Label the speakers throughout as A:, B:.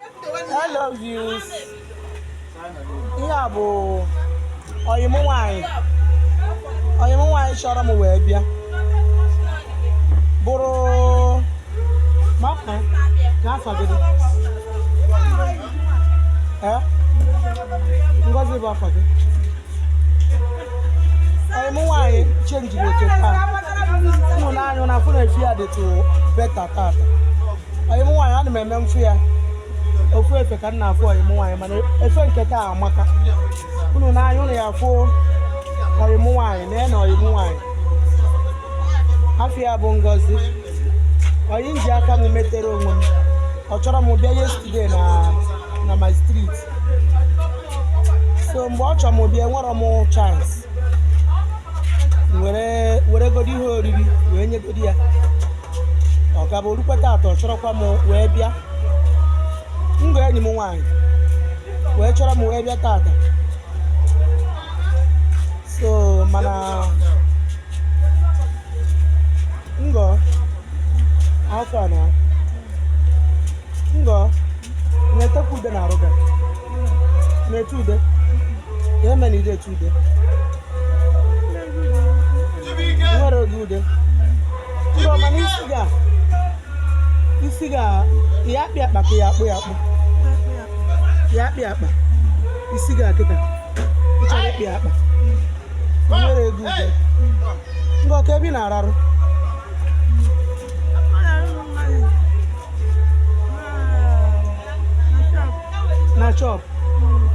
A: Hello viewers. Ihe a bụ ọyị mụ nwaanyị ọyị mụ nwaanyị chọrọ m wee bịa bụrụ maka ka afa gị dị ee Ngozi bụ afa gị ọyị mụ nwaanyị chenjiri oke taa unu nee anya unu afụ na efe ya dịtụ better tata ọyị m nwaanyị ana m eme m fụ ya ofu efe ka m na-afụ ọyị m nwaanyị mana efe nke taa amaka unu nee anya unu ya-afụ ọyị m nwaanyị na ya na ọyị m nwaanyị afa ya bụ Ngozi ọyị m ji aka m metere onwe m ọ chọrọ m bịa yesterday na na my street so mgbe ọ chọrọ m bịa enwere m chance wee weregodi ihe oriri wee nyegodi ya ọ gaba o rukwe tata ọ chọrọkwa m wee bịa Ngọ enyi m nwaanyị wee chọrọ m wee bịa tata so mana Ngọ afọ na Ngọ na-etekwa ude n'arụ gị na-ete ude ka eme na ide ete ude nwere oge ude ndo mana isi gị a isi gị a ị ya-akpa ya akpa ka ị ya-akpụ ya akpụ ị ya-akpa ya akpa isi gị a kịta ị chọrọ ịkpa ya akpa o nwere ego ugo Ngọ kee ebe ị na-ararụ na shop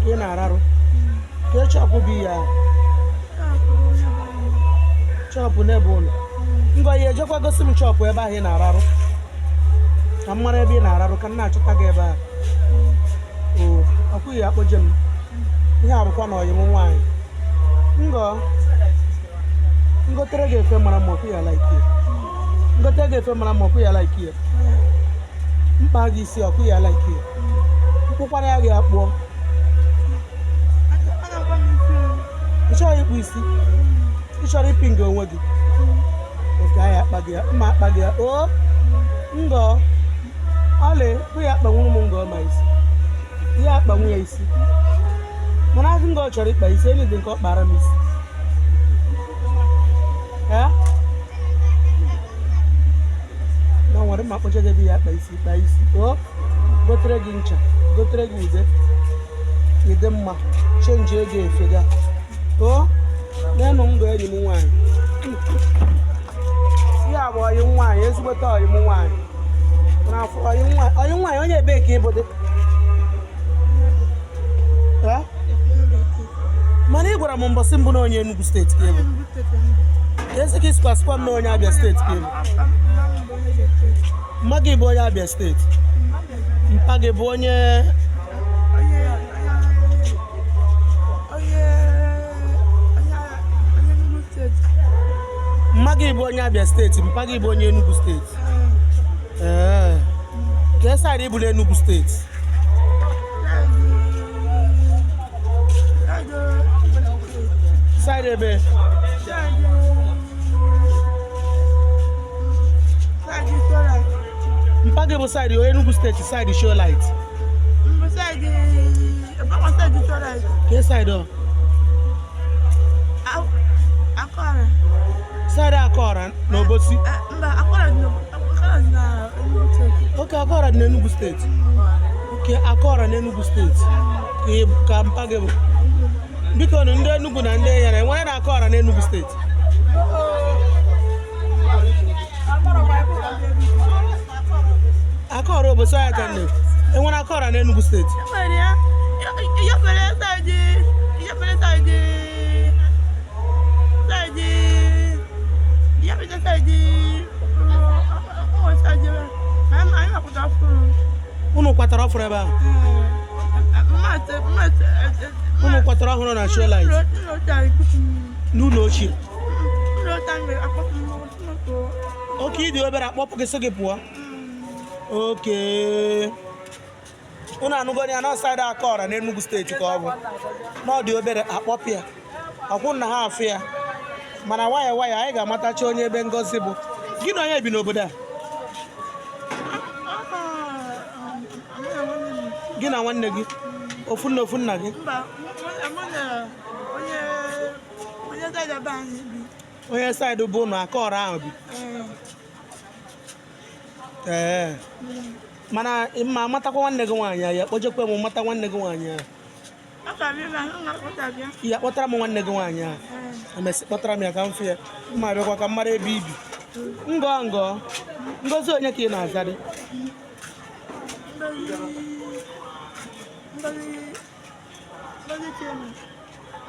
A: ka ị na-ararụ kee shop bụ ya shop n'ebe ụlọ Ngọ ị ya-ejekwa gosi m shop ebe ahụ ị na-ararụ ka m mara ebe ị na-ararụ ka m na-achọta gị ebe ahụ ọkwa ị ya-akpọje m ihe a bụkwa na ọyị m nwaanyị Ngọ m gotere gị efe mara mma ọkwa ị ya-like m gotere gị efe mara mma ọkwa ị ya-like ya m kpaa gị isi ọkwa ị ya-like ya m kpụkwara ya gị akpụọ ị chọrọ ịkpụ isi ị chọrọ ịpịnga onwe gị okay a ya-akpa gị ya m ma-akpa gị ya o Ngọ ọlị bụ ya akpanwuru m Ngọ ma isi ya akpanwu ya isi mana azụ Ngọ chọrọ ịkpa isi enyi dị nke ọ kpara m isi ee na nwere mma kpọcha gị ebe ị ya-akpa isi kpa isi o gotere gị ncha gotere gị ude ịdị mma chenji ego efega o n'enu ndụ enyi m nwaanyị ihe a bụ ọyị nwaanyị ezigbote ọyị m nwaanyị n'afọ ọyị nwaanyị ọyị nwaanyị onye ebee ka ị bụdị Eh? mana ị gwara m mbọsị mbụ na onye Enugu steeti ka ị bụ ezi ka ị sịkwa sịkwa m na onye Abia steeti ka ị bụ mma gị bụ onye Abia steeti mpa gị bụ onye mma gị bụ onye Abia steeti mpa gị bụ onye Enugu steeti kee side ị bụ na Enugu steeti side ebe mpa gị bụ side Enugu steeti side Show Light Side Akụọra na Obosi. Okay Akụọra dị n'Enugu steeti. Okay Akụọra n'Enugu steeti ka mpa gị bụ. Bikonụ ndị Enugu na ndị Enyere e nwere na Akụọra n'Enugu steeti. Akụọra Obosi ya ka nne e nwere Akụọra na Enugu steeti unu kwatara ọfụrụ ebe ahụ unu kwatara ọhụrụ na show light n'ụlọ ochie okay ị dị obere a kpọpụ gị sị gị pụọ okay unu anụgo ya na ọ side Akụọra n'Enugu steeti ka ọ bụ na ọ dị obere a kpọpụ ya akwụ na ha afụ ya mana waya waya anyị ga-amatacha onye ebe Ngozi bụ gị na onye bi n'obodo a gị na nwanne gị ofu nne ofu nna gị onye side bụ unu Akụọra ahụ bi ee mana ma amatakwa nwanne gị nwaanyị ya kpọjekwa m mata nwanne gị nwaanyị ahụ ihe kpọtara m nwanne gị nwaanyị ahụ emesịa kpọtara m ya ka m fụ ya mma bịakwa ka m mara ebe i bi ngọ ngọ Ngozi onye ka ị na-azadị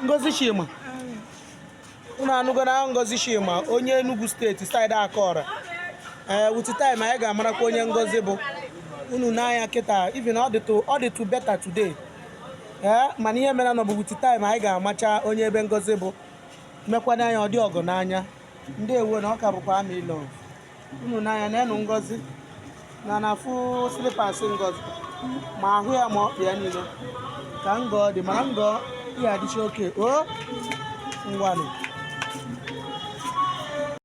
A: Ngozi Chima unu anụgo na Ngozi Shima onye Enugu State side Akọra ee eh, with time anyị ga-amarakwa onye Ngozi bụ unu n'anya kịta even ọ dịtụ better today ee eh, mana ihe mere na ọ bụ with time anyị ga-amacha onye ebe Ngozi bụ mekwana anya ọ dị ọgụ n'anya ndị ewu na ọ ka bụkwa ama ịlọ unu n'anya nenụ Ngozi na na-afụ slippers Ngozi ma ahụ ya ma ọkpa ya niile ka Ngọ dị mana Ngọ ya adịcha okay o ngwanụ